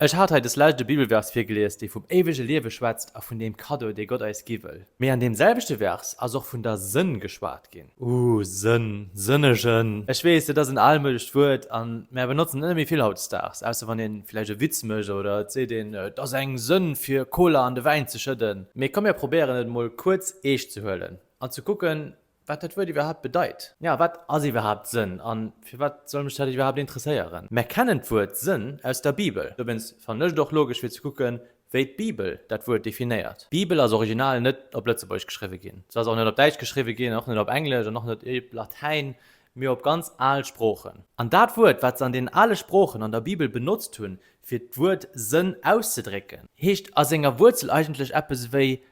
Ech hat hei des Lescht e Bibelvers virgelies, dee vum éiwege Liewe schwätzt a vun deem Kaddo, dee Gott eis gi wëll. Mee an deem selwechte Vers ass och vun der Sënn geschwat ginn. Ooh, Sënn, sënnegen. Ech weess, dat ass en almoudecht Wuert a mär benotzen et net méi vill hautdesdaags, ausser wann ee villäicht e Witz mécht oder et seet een, et ass eng Sënn, fir Koler an de Wäin ze schëdden. Mee komm, mär probéieren et emol kuerz eescht ze huelen an ze kucken, Wat dat Wuert iwwerhaapt bedeit? Ja, wat ass iwwerhaapt Sënn? A firwat soll mech dat iwwerhaapt interesséieren? Mär kennen d'Wuert Sënn aus der Bibel. Dowéinst fannen ech et och logesch fir ze kucken, wéi d'Bibel dat Wuert definéiert. D'Bibel ass original net op Lëtzebuergesch geschriwwe ginn. Se ass och net op Däitsch geschriwwe ginn, och net op Englesch an och net op Latäin, mee op ganz al Sproochen. An dat Wuert, wat se an deenen ale Sproochen an der Bibel benotzt hunn, fir d'Wuert Sënn auszedrécken, heescht a senger Wuerzel eigentlech eppes ewéi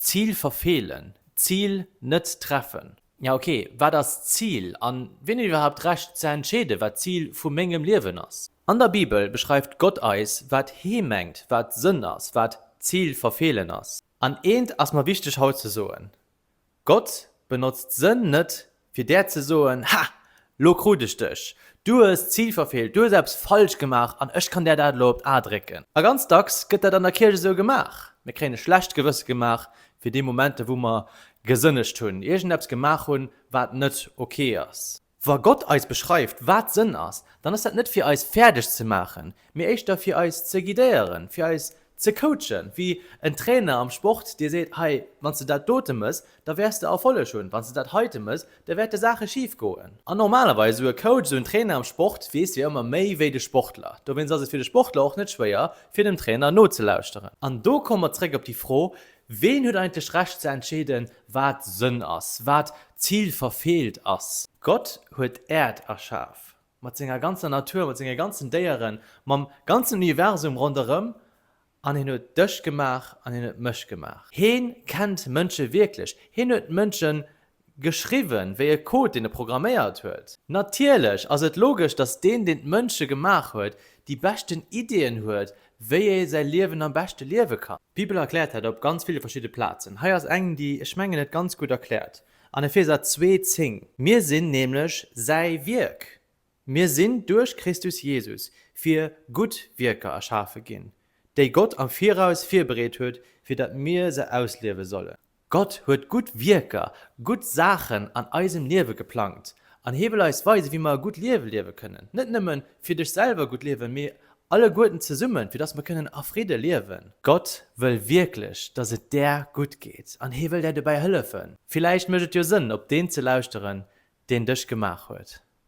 D'Zil verfeelen, d'Zil net treffen. Ja ok, wat ass d'Zil? An wien huet iwwerhaapt d'Recht ze entscheeden, wat d'Zil vu mengem Liewen ass? An der Bibel beschreift Gott eis, wat Hie mengt, wat Sënn ass, wat d'Zil verfeelen ass. An eent ass mer wichteg haut ze soen, Gott benotzt Sënn net, fir der ze soen, Ha, lo krut ech dech! Du hues d'Zil verfeelt, du hues eppes falsch gemaach an ech kann der dat elo op d'A drécken. A ganz dacks gëtt dat an der Kierch esou gemaach. Mir kréien e schlecht Gewësse gemaach fir déi Momenter, wou mer gesënnegt hunn, iergendeppes gemaach hunn, wat net ok ass. Wa Gott eis beschreift, wat Sënn ass, dann ass dat net fir eis fäerdeg ze maachen, mee éischter fir eis ze guidéieren, fir eis ze coachen, wéi en Trainer am Sport dir seet, hei, wann s de dat dote mëss, da wäers de Erfolleg hunn, wann s de dat heite mëss, da wäerte Saache schif goen. An normalerweis, esou e Coach, esou en Trainer am Sport weess jo ëmmer méi wéi de Sportler. Dowéinst ass et fir de Sportler och net schwéier, fir dem Trainer nozelauschteren. An do komme mer zréck op déi Fro, Ween huet eigentlech Recht ze entscheeden, wat Sënn ass, wat d'Zil verfeelt ass? Gott huet d'Äerd erschaf, mat senger ganzer Natur, mat senge ganzen Déieren, mam ganzen Universum ronderëm, an hien huet dech gemaach an hien huet mech gemaach. Heen kennt Mënsche wierklech, hien huet Mënschen Geschriwwen wéi e Code, deen e programméiert huet. Natierlech ass et logesch, datt deen, deen d'Mënsche gemaach huet, déi beschten Iddien huet, wéi ee säi Liewen am beschte liewe kann. D'Bibel erkläert dat op ganz ville verschidde Plazen. Hei ass eng, déi, ech mengen, et ganz gutt erkläert, an Epheser zwee, zéng. Mir sinn nämlech säi Wierk, Mir sinn duerch Christus Jesus fir gutt Wierker erschafe ginn, déi Gott am Viraus virbereet huet, fir datt mir se ausliewe sollen. Gott huet gutt Wierker, gutt Saachen an eisem Liewe geplangt an Hie wëll eis weisen, wéi mer e gutt Liewe liewe kënnen. Net nëmme fir dech selwer gutt liewen, mee alleguerten zesummen, fir datt mer kënnen a Fridde liewen. Gott wëll wierklech, datt et där gutt geet an Hie wëll där dobäi hëllefen. Villäicht mécht et jo Sënn, op Deen ze lauschteren, deen dech gemaach huet.